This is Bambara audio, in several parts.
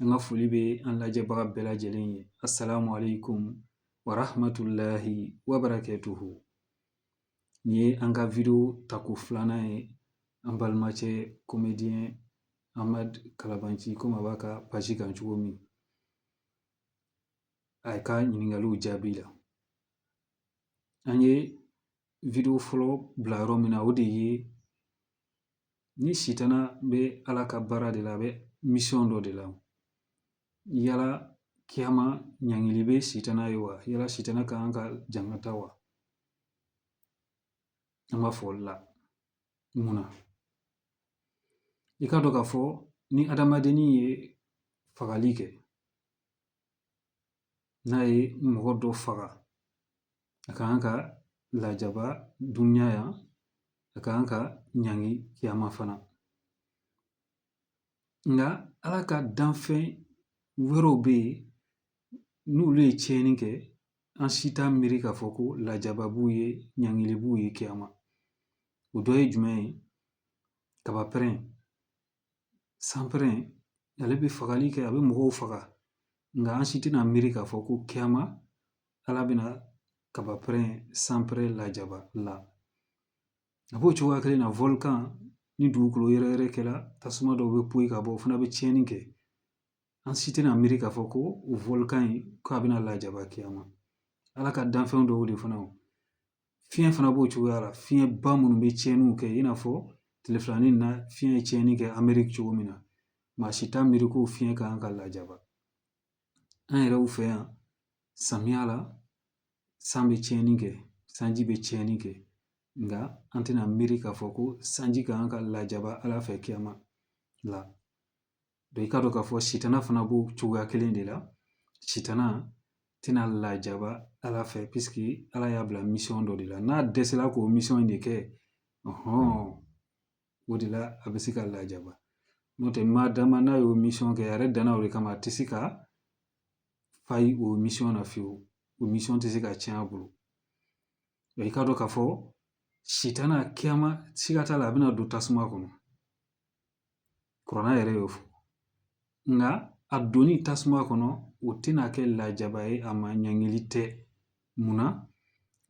an ka foli bɛ an lajɛbaga bɛɛ lajɛlen ye asalamu aleykum warahamatulahi wabarakatuhu nin ye an ka wideyo tako filanan ye an balimacɛ komediyɛn amadu kalabanci komi a b'a ka pasi kan cogo min a ye ka ɲininkaliw jaabili la an ye wideyo fɔlɔ bila yɔrɔ min na o de ye ni sitana bɛ ala ka baara de la a bɛ misiyɔn dɔ de la yala kiyama ɲangili bɛ sitana ye wa yala sitana ka kan ka jangata wa an b'a fɔli la mun na i k'a dɔn k'a fɔ ni adamadennin ye fagali kɛ n'a ye mɔgɔ dɔ faga a ka kan ka lajaba dunya yan a ka kan ka ɲangi kiyama fana nka ala ka danfɛn wɛrɛw bɛ yen n'olu ye tiɲɛni kɛ an si t'a miiri k'a fɔ ko lajaba b'u ye ɲangili b'u ye kiyama o dɔ ye jumɛn ye kaba pɛrɛn sanpɛrɛn ale bɛ fagali kɛ a bɛ mɔgɔw faga nka an si tɛna miiri k'a fɔ ko kiyama ala bɛna kaba pɛrɛn sanpɛrɛn lajaba la a b'o cogoya kelen na wolkan ni dugukolo yɛrɛyɛrɛ kɛra tasuma dɔw bɛ poyi ka bɔ o fana bɛ tiɲɛni kɛ an si tɛna miiri k'a fɔ ko wolkan in k'a bɛna lajaba kiyama ala ka danfɛn dɔw de fana fiɲɛ fana b'o cogoya la fiɲɛ ba minnu bɛ tiɲɛniw kɛ i n'a fɔ tile fila nin na fiɲɛ ye tiɲɛni kɛ ameriki cogo min na maa si t'a miiri ko fiɲɛ ka kan ka lajaba an yɛrɛw fɛ yan samiya la san bɛ tiɲɛni kɛ sanji bɛ tiɲɛni kɛ nka an tɛna miiri k'a fɔ ko sanji ka kan ka lajaba ala fɛ kiyama la i k'a dɔn k'a fɔ sitana fana b'o cogoya kelen de la sitana tɛna lajaba ala fɛ ala y'a bila misiyɔn dɔ de la n'a dɛsɛla k'o misiyɔn in de kɛ o de la a bɛ se ka lajaba n'o tɛ maadama n'a y'o misiyɔn kɛ a yɛrɛ danna o de kama a tɛ se ka fayi o misiyɔn na fiyewu o misiyɔn tɛ se ka tiɲɛ a bolo i k'a dɔn k'a fɔ sitana kiyama siga t'a la a bɛna don tasuma kɔnɔ kuranna yɛrɛ y'o fɔ nka a donni tasuma kɔnɔ o tɛna kɛ lajaba ye a ma ɲangili tɛ munna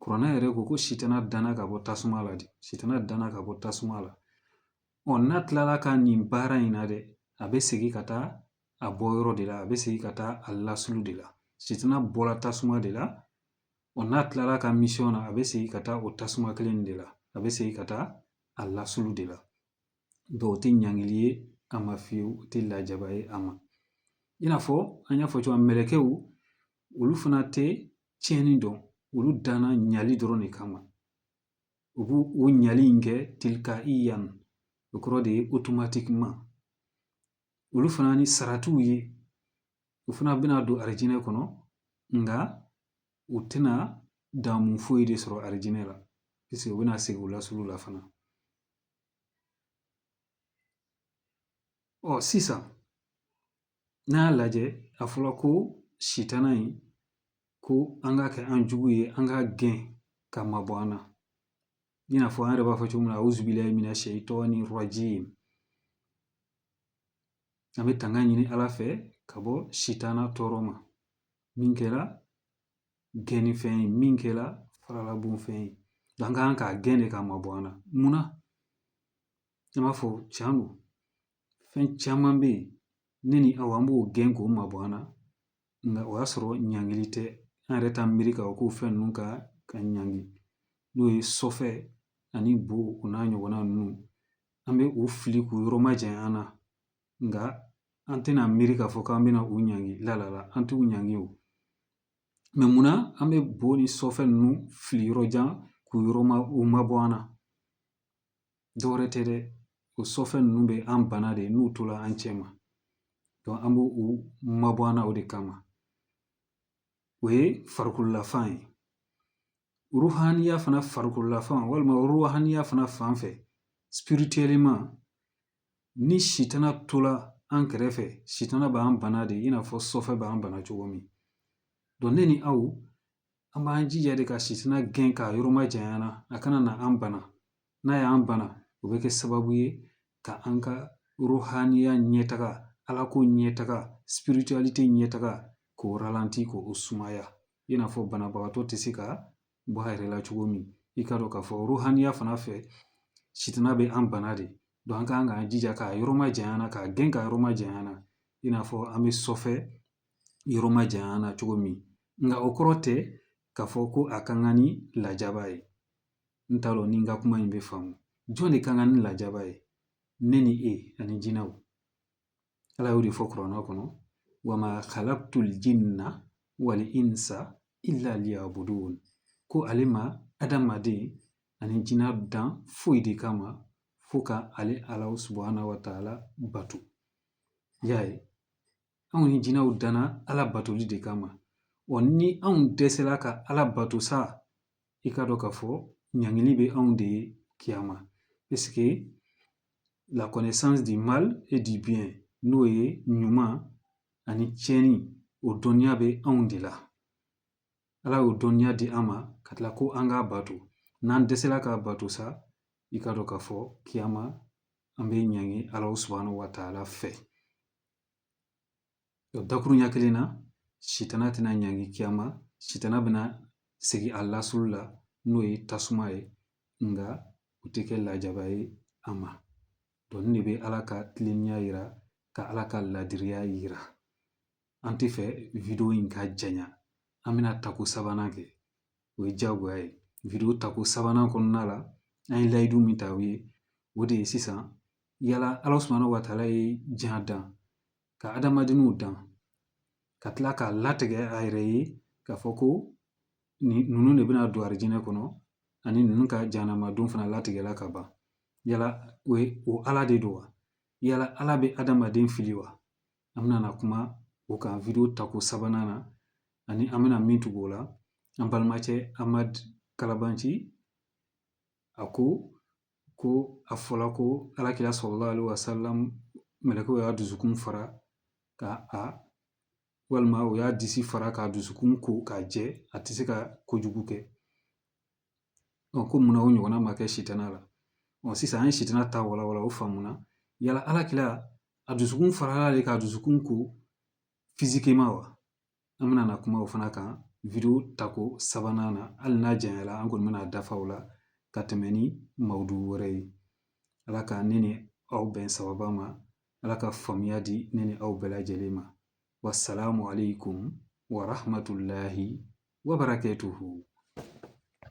kuranna yɛrɛ ko ko sitana danna ka bɔ tasuma la de sitana danna ka bɔ tasuma la ɔ n'a tilala ka nin baara in na dɛ a bɛ segin ka taa a bɔ yɔrɔ de la a bɛ segin ka taa a lasulu de la sitana bɔra tasuma de la ɔ n'a tilala a ka misiyɔn na a bɛ segin ka taa o tasuma kelen de la a bɛ segin ka taa a lasulu de la o tɛ ɲangili ye a ma fiyewu o tɛ lajaba ye a ma i n'a fɔ an y'a fɔ cogoya min na mɛlɛkɛw olu fana tɛ tiɲɛni dɔn olu danna ɲali dɔrɔn de kama u bɛ o ɲali in kɛ tilikayiyan o kɔrɔ de ye otomatikiman olu fana ni saratiw ye u fana bɛna don alijinɛ kɔnɔ nka u tɛna daamu foyi de sɔrɔ alijinɛ la u bɛna segin u lasili la fana Ɔ sisan n'a y'a lajɛ a fɔra ko sitana in ko an k'a kɛ an jugu ye an k'a gɛn k'a mabɔ an na i n'a fɔ an yɛrɛ b'a fɔ cogo min na a'uzu billahi mina shaytani rajim an bɛ tanga ɲini ala fɛ ka bɔ sitana tɔɔrɔ ma min kɛra gɛnni fɛn ye min kɛra faralabon fɛn ye an ka kan k'a gɛn de k'a mabɔ an na munna i b'a fɔ tiɲɛ don fɛn caman bɛ yen ne ni aw an b'o gɛn k'o mabɔ an na nka o y'a sɔrɔ ɲangili tɛ an yɛrɛ t'an miiri k'a fɔ ko fɛn ninnu ka kan ka ɲangi n'o ye sɔfɛ ani bo o n'a ɲɔgɔnna ninnu an bɛ u fili k'u yɔrɔ majanya an na nka an tɛna miiri k'a fɔ k'an bɛna u ɲangi la an t'u ɲangi o mɛ munna an bɛ bo ni sɔfɛ ninnu fili yɔrɔ jan k'u yɔrɔ ma u mabɔ an na dɔwɛrɛ tɛ dɛ o sɔfɛ ninnu bɛ an bana de n'u tola an cɛma an bɛ u mabɔ an na o de kama o ye farikololafan ye ruhaniya fana farikololafan walima ruhaniya fana fan fɛ ni sitana tola an kɛrɛfɛ sitana b'an bana de i n'a fɔ sɔfɛ b'an bana cogo min ne ni aw an b'an jija de ka sitana gɛn k'a yɔrɔ majanya an na a kana na an bana n'a y'an bana o bɛ kɛ sababu ye ka an ka ruhaniya ɲɛtaga ala ko ɲɛtaga spiritualite ɲɛtaga k'o ralanti k'o sumaya i n'a fɔ banabagatɔ tɛ se ka bɔ a yɛrɛ la cogo min i k'a dɔn k'a fɔ ruhaniya fana fɛ sitana bɛ an bana de an ka kan k'an jija k'a yɔrɔ majanya an na k'a gɛn k'a yɔrɔ majanya an na i n'a fɔ an bɛ sɔfɛ yɔrɔ majanya an na cogo min nka o kɔrɔ tɛ k'a fɔ ko a ka kan ni lajaba ye n t'a dɔn ni n ka kuma in bɛ faamu jɔn de ka kan ni lajaba ye ne ni e ani jinɛw ala y'o de fɔ kuranɛ kɔnɔ wa ma khalaqtul jinna wal insa illa liya'budun ko ale ma adamaden ani jinɛ dan foyi de kama fo ka ale ala subahana wa taala bato y'a ye anw ni jinɛw danna ala batoli de kama wa ni anw dɛsɛla ka ala bato sa i k'a dɔn k'a fɔ ɲangili bɛ anw de ye kiyama parce que la connaissance du mal et du bien n'o ye ɲuman ani tiɲɛni o dɔnniya bɛ anw de la ala y'o dɔnniya di an ma ka tila ko an k'a bato n'an dɛsɛla k'a bato sa i k'a dɔn k'a fɔ kiyama an bɛ ɲangi ala subahana wa taala fɛ O dakuruɲɛ kelen na sitana tɛna ɲangi kiyama sitana bɛna segin a lasili la n'o ye tasuma ye nka o tɛ kɛ lajaba ye a ma nin de bɛ ala ka tilennenya jira ka ala ka laadiriya jira an t'a fɛ wideyo in ka janya an bɛna tako sabanan kɛ o ye diyagoya ye wideyo tako sabanan kɔnɔna la an ye layidu min ta aw ye o de ye sisan yala ala subahana wa taala ye jan dan ka adamadenw dan ka tila k'a latigɛ a yɛrɛ ye k'a fɔ ko ninnu de bɛna don alijinɛ kɔnɔ ani ninnu ka jahanamadon fana latigɛla ka ban yala o ye o ala de don wa yala ala bɛ adamaden fili wa an bɛna na kuma o kan wideyo tako sabanan na ani an bɛna min tugu o la an balimakɛ amadu kalabanci a ko ko a fɔla ko ala kira salalahu alayihi wasalam mɛlɛkɛw y'a dusukun fara ka a walima u y'a disi fara k'a dusukun ko k'a jɛ a tɛ se ka kojugu kɛ ko munna o ɲɔgɔnna ma kɛ sitana la sisan an ye sitana ta wala wala o faamuna yala ala kira a dusukun farala de k'a dusukun ko physiquement wa an bɛna na kuma o fana kan wideyo tako sabanan na hali n'a janyana an kɔni bɛna dafa o la ka tɛmɛ ni mawdu wɛrɛ ye ala ka ne ni aw bɛn sababa ma ala ka faamuya di ne ni aw bɛɛ lajɛlen ma wasalamu aleykum wa rahmatulahi wa barakatuhu